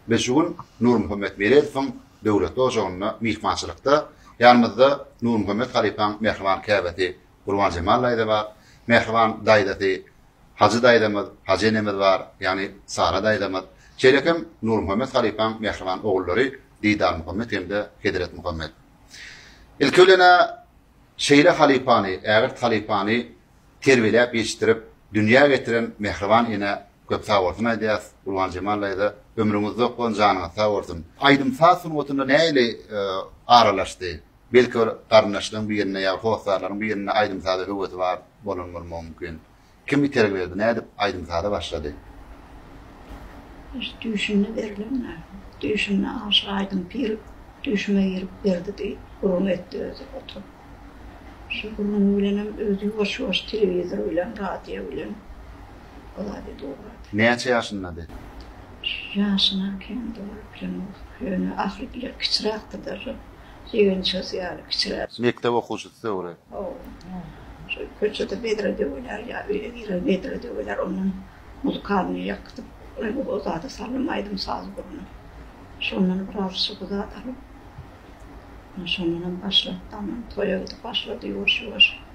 Biz şu gün Nurmuhammet Meredowyň döwletli ojagynda myhmançylykda. Ýanymyzda Nurmuhammet halypaň mähriban käbesi Gurbanjemal daýza bar, mähriban daýzasy Hajy daýzamyz, Hajy enemiz bar, ýagny Sara daýzamyz. Şeýle hem Nurmuhammet halypaň mähriban ogullary Didarmuhammet hem-de Hezretmuhammet. Ilki bilen-ä Şeýle halypany, ägirt halypany terbiýeläp ýetişdirip, dünýä getiren mähriban enä köp sag bolsun aýdýas. Gurban Jemal daýza, ömrüňiz uzak bolsun, janyňyz sag bolsun. Aýdym-saz sungatyna nähili aralaşdy? Belki bir garyndaşlaryň birinde ýa hossarlaryň birinde aýdym-saza höwesi bar bolan bolmagy mümkin. Kim itergi berdi nädip aýdym saza başlady. Öz düýşünde berlen dä. Düýşünde aşa aýdym pir düýşüme girip berdi diýip gürrüň etdi özi oturyp. Şu gürrüňi bilenem özi ýuwaş ýuwaş telewizor bilen radio bilen o zady dogrady. Näçe ýaşyndady? Ýaşyna kän dogry bilemok. Ýöne ahyry bile kiçiräkdi derrep. Ýigynçasy ýaly kiçiräk. Mekdep okuwçysy döwri. Şol köçede bedre döwüler ýa öýe girer bedre döwüler ondan muzykalnyý ýakdyp o zada salym aýdym saz gurny. Şondan biraz şygy zat alyp şondanam başlap daman toýa gidip başlady ýuwaş ýuwaş.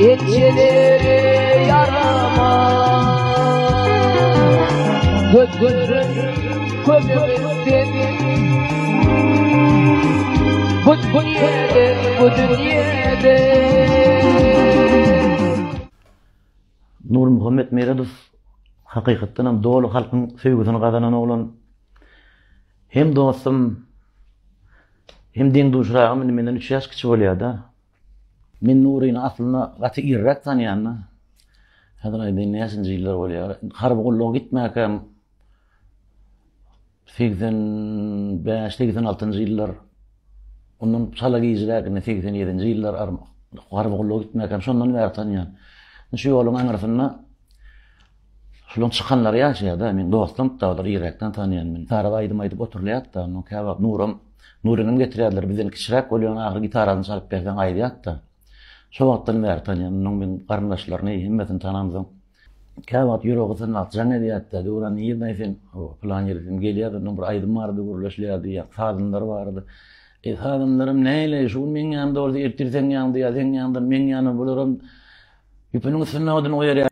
Elçileri yarama Göt gözün kömürden Bu dünyede, bu dünyede Nur Muhammed Meredov hakykatdan hem dolu halkyň söýgüsini gazanan oglan hem dostum Hem deň-duşragym indi menden üç ýaş kiçi bolýada. Men Nuryny aslynda gaty irräk tanýanda. Häzir aýdaýyn näçinji ýyllar bolýar. Harby gulluga gitmäkäm segsen bäş, segsen altynjy ýyllar. Ondan çala gijräkine segsen ýedinji ýyllar harby gulluga gitmäkäm şondan bäri tanýan. Şu ýoluň aňyrsynda Şunuň çykanlary ýaşaýar-da, meň dostum, daglar ýiräkden tanaýan men. Gitaraly aýdym aýdyp oturylýar-da, onuň käwagt Nuram, Nuryňam getirýärler, bizden kiçiräk bolýaň ahyry gitarasyny çalyp berseň aýdýat-da. Şo wagtdan bäri tanaýan, onuň meň garyndaşlaryny, hemmesini tanamsoň, käwagt ýüregi synlap jaň edýär-de, Döwran nirdeň sen, o, pylan ýeri sen gelýärdi, onnoň bir aýdym bardy, gürleşilýärdi, ýa, sazynlar bardy. Eý, sazynlarym näleý, şu gün meň ýanymda bolsa, ertir seň ýanyňda, ýa, seň ýanyňdan meň ýanyma, bularam ýüpüniň üstünde odun goýarýar.